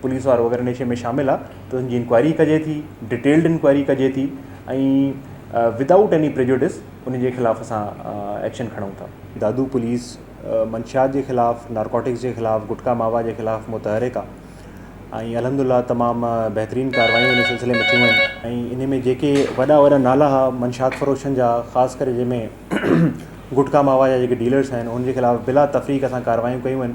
Police وارو اگر نيشي ۾ شامل آ ته ان جي انڪوائري ڪجي ٿي ڊيٽيلڊ انڪوائري ڪجي ٿي ۽ ود آئوٽ ايني پريجوڊس ان جي خلاف اسان ايڪشن کڻون ٿا دادو پوليس منشيات جي خلاف نارڪوٽڪس جي خلاف گٽڪا ماوا جي خلاف متحرڪ آ ۽ الحمد لله تمام بهترين ڪاروايون ان سلسلي ۾ ٿيون آهن ۽ ان ۾ جيڪي وڏا وڏا نالا ها منشيات فروشن جا خاص ڪري جنهن ۾ گٽڪا ماوا جا جيڪي ڊيلرس آهن ان جي خلاف بلا تفريق اسان ڪاروايون ڪيون آهن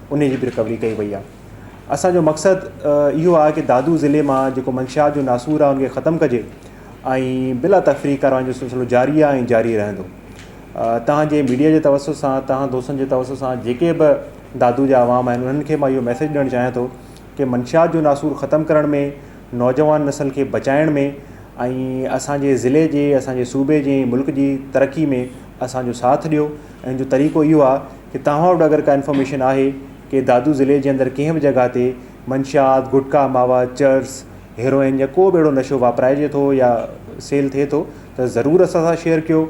انهي جي به رڪوري ڪئي وئي آهي اسان جو مقصد اهو آهي ڪي دادو ضلعي مان جيڪو منشيات جو ناسور آهي ان کي ختم ڪجي ۽ بلا تفريق ڪارروائين جو سلسلو جاري آهي ۽ جاري رهندو توهان جي ميڊيا جي توسط سان توهان دوستن جي توسط سان جيڪي به دادو جا عوام آهن انهن کي مان اهو ميسيج ڏيڻ چاهيان ٿو ڪي منشيات جو ناسور ختم ڪرڻ ۾ نوجوان نسل کي بچائڻ ۾ ۽ اسان جي ضلعي جي اسان جي صوبي جي ملڪ جي ترقي ۾ اسان جو ساٿ ڏيو ۽ ان جو طريقو اهو آهي ڪي توهان وٽ اگر ڪا انفارميشن آهي ڪي دادو ضلعي جي اندر ڪنهن به جڳهه تي منشيات، گٽڪا، ماوا، چرس، هيروئن يا ڪو به اهڙو نشو واپرائجي ٿو يا سيل ٿئي ٿو ته ضرور اسان سان شيئر ڪيو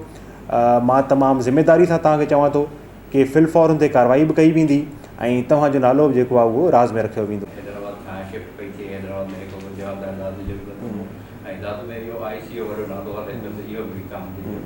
مان تمام ذميداري سان توهان کي چوان ٿو ڪي في الفور ان تي ڪاروائي به ڪئي ويندي ۽ توهان جو نالو به جيڪو آهي اهو راز ۾ رکيو ويندو. حيدرآباد کان شفٽ پئي ٿئي حيدرآباد ۾ هڪ منشيات ۽ دادو جي ڪلب هو ۽ دادو ۾ اهو آء سي او وارو نالو هلي پيو ته اهو به وڪامجي ويو.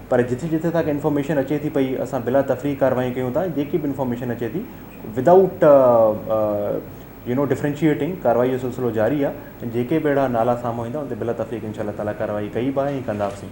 پر جٿي جٿي اسان کي انفارميشن اچي ٿي پئي اسان بلا تفريح ڪارروائي ڪيون ٿا جيڪي به انفارميشن اچي ٿي ودائوٽ يو نو ڊفرينشيئيٽنگ ڪارروائي جو سلسلو جاري آهي جيڪي به اهڙا نالا سامهون ايندا ان تي بلا تفريح انشاء الله تعالٰي ڪارروائي ڪئي به آهي ۽ ڪندا به سين